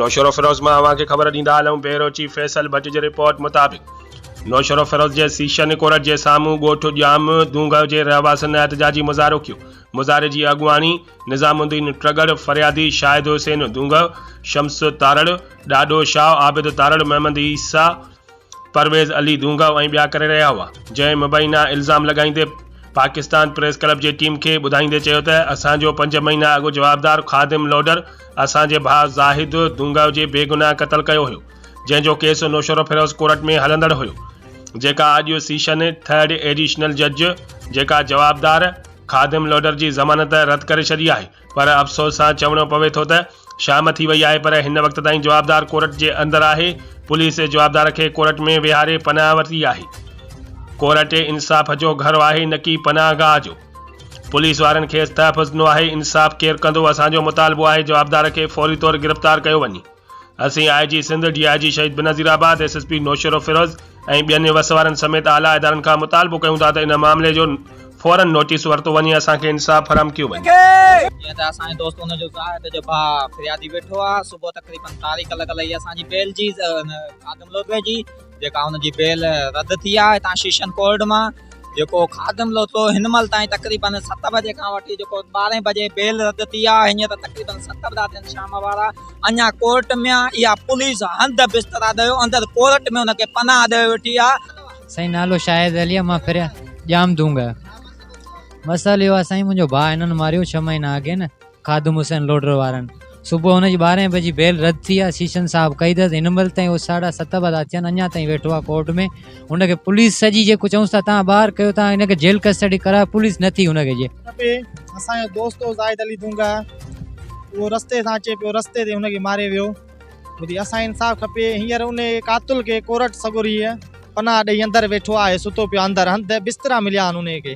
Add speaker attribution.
Speaker 1: نوشهروفيروز مان اوهان کي خبر ڏيندا هلون بيورو چيف فيصل ڀٽ جي رپورٽ مطابق نوشهروفيروز جي سيشن ڪورٽ جي سامهون ڳوٺ ڄام دونگهه جي رهواسين احتجاجي مظاهرو ڪيو مظاهري جي اڳواڻي نظام الدين ٽرڳڙ فريادي شاهد حسين دونگهه شمس تارڙ ڏاڏو شاهه عابد تارڙ محمد عيسيٰ پرويز علي دونگا ۽ ٻيا ڪري رهيا هئا، جنهن مبينا الزام لڳائيندي پاڪستان پريس ڪلب جي ٽيم کي ٻڌائيندي چيو ته اسان جو پنج مهينا اڳ جوابدار خادم لوڊر اسان جي ڀاء زاهد دونگا جي بيگناهه قتل ڪيو هيو جنهن جو ڪيس نوشهروفيروز ڪورٽ ۾ هلندڙ هيو جيڪا اڄ سيشن ٿرڊ ايڊيشنل جج جيڪا جوابدار خادم لوڊر جي ضمانت رد ڪري ڇڏي آهي. پر افسوس سان چوڻو پوي ٿو ته شام ٿي وئي آهي پر هن وقت تائين جوابدار ڪورٽ جي اندر آهي، پوليس جوابدار کي ڪورٽ ۾ ويهاري پناهه ورتي آهي، ڪورٽ انصاف جو گهر آهي نه ڪي پناهه گاهه جو، پوليس وارن کيس تحفظ ڏنو آهي، انصاف ڪير ڪندو، اسان جو مطالبو آهي جوابدار کي فوري طور گرفتار ڪيو وڃي. اسين آء جي Sindh, D I G Shaheed Benazirabad, S S P Naushahro Feroze ۽ ٻين وس وارن سميت اعليٰ ادارن کان مطالبو ڪيون ٿا ته ان معاملي جو فورن نوٽيس ورتو وڃي ۽ اسان کي انصاف فراهم ڪيو وڃي. جيئن ته
Speaker 2: اسان جي دوست ان جو زاهد جو ڀاء فريادي ويٺو آهي صبح تقريبن تاريخ لڳل هئي اسان جي بيلجي خادم لوڌوي جي. جيڪا هن جي بيل رد ٿي آهي هتان شيشن ڪورٽ مان جيڪو خادم لوٿو هن مهل تائين تقريبن ست بجي کان وٺي جيڪو ٻارهين بجي بيل رد ٿي آهي هيئن ته تقريبن ست بجا ٿين شام وارا اڃا ڪورٽ ۾ آهي اها پوليس هنڌ بسترا ڏيو اندر ڪورٽ ۾ هن کي پناهه ڏيئي ويٺي آهي سائين نالو شاهد
Speaker 3: علي مان پھريان ڄام دونگ مسئلو اهو آهي سائين منهنجو ڀاء هنن ماريو ڇهه مهينا اڳي نه خادم حسين لوڍر وارن صبح هن جي ٻارهين بجي بيل رد ٿي آ، شيشن صاحب ڪئي اٿس، هن مهل تائين اهو ساڍا ست به ٿا ٿين اڃا تائين ويٺو آ ڪورٽ ۾، هن کي پوليس سڄي جيڪو چئونس ٿا تان ٻاهر ڪيو تان هن کي جيل ڪسٽڊي ڪرايو پوليس نه ٿي هن کي جي. کپي اسان جو
Speaker 4: دوست هو زاهد علي دونگا اهو رستي سان اچي پيو رستي تي هن کي ماري ويو ٻڌي اسان کي انصاف کپي هينئر انهي قاتل کي ڪورٽ سڳوري پناهه ڏئي اندر ويٺو آهي ستو پيو آ اندر هنڌ بسترا مليا آهن انهي کي.